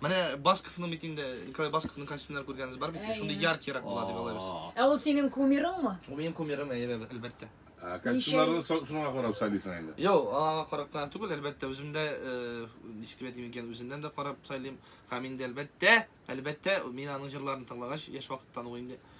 Менә Басковның бит инде Николай Басковның костюмнары күргәнегез бар бит. Әйе. Шундый яркирәк була дип алай без. Aa. Ә ул синең кумирыңмы? Ул минем кумирым, әйе, әб- әлбәттә. Ә, Костюмнарны со- шуңа карап сайлыйсың инде. Юк, аңа карап кына түгел, әлбәттә, үзем дә, э, ничек дип әйтим икән, үземнән дә карап сайлыйм. Һәм инде, әлбәттә, әлбәттә, мин аның җырларын тыңлагач, яшь вакыттан ук инде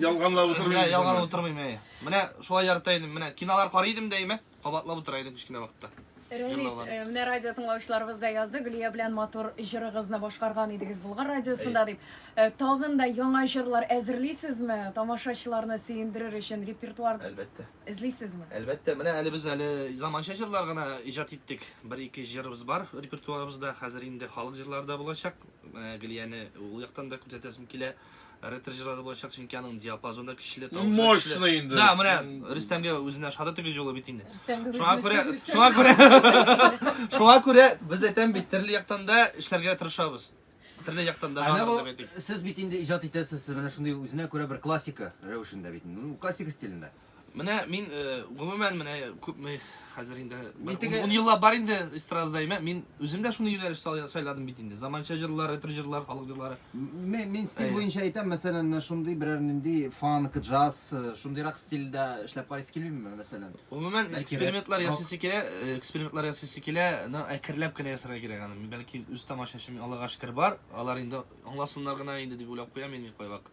Ялганлап утырмыйм. Менә ялганлап утырмыйм, әй. Менә шулай ярата идем. Менә кинолар карый идем дәимә, кабатлап утыра идем кечкенә вакытта. Рәмис, э, менә радио тыңлаучыларыбыз да язды, Гөлия белән матур җырыгызны башкарган идегез Болгар радиосында дип. Э, тагын да яңа җырлар әзерлисезме? Тамашачыларны сөендерер өчен репертуар Әлбәттә. эзлисезме? Әлбәттә, менә әле без әле заманча җырлар гына иҗат иттек. Бер-ике җырыбыз бар репертуарыбызда. Хәзер инде халык җырлары да булачак. Менә Гөлияне ул яктан да күрсәтәсем килә. Реттер җырлары булачак, чөнки аның диапазоны да көчле, тавышы да Мощный көчле. инде. Да, менә Рөстәмгә үзенә шада тигез юлы бит инде. Рөстәмгә Шуңа күрә, үзенә шуңа күрә, шуңа күрә без әйтәм бит, төрле яктан да эшләргә тырышабыз. Төрле яктан да Әнә жанр бу, дип әйтик. сез бит инде иҗат итәсез, менә шундый үзенә күрә бер классика рәвешендә бит, ну, классика стилендә. Менә мин э, гомумән менә күпме хәзер инде бер теге- ун- ун еллап бар инде эстрадада имә. Мин үзем дә шуны юнәлеш сайлый- сайладым бит инде. Заманча җырлар, ретро җырлар, халык җырлары. Мин, мин стиль Әйе. буенча әйтәм, мәсәлән, менә шундый берәр нинди фанк, джаз, э, шундыйрак стильдә эшләп карыйсы килмиме, мәсәлән? Гомумән Бәлки экспериментлар рок. ясыйсы килә, э, экспериментлар ясыйсы килә, но әкренләп кенә ясарга кирәк аны. Мин бәлки үз тамашачым Аллага шөкер бар, алар инде аңласыннар гына инде дип уйлап куям мин кайвакыт.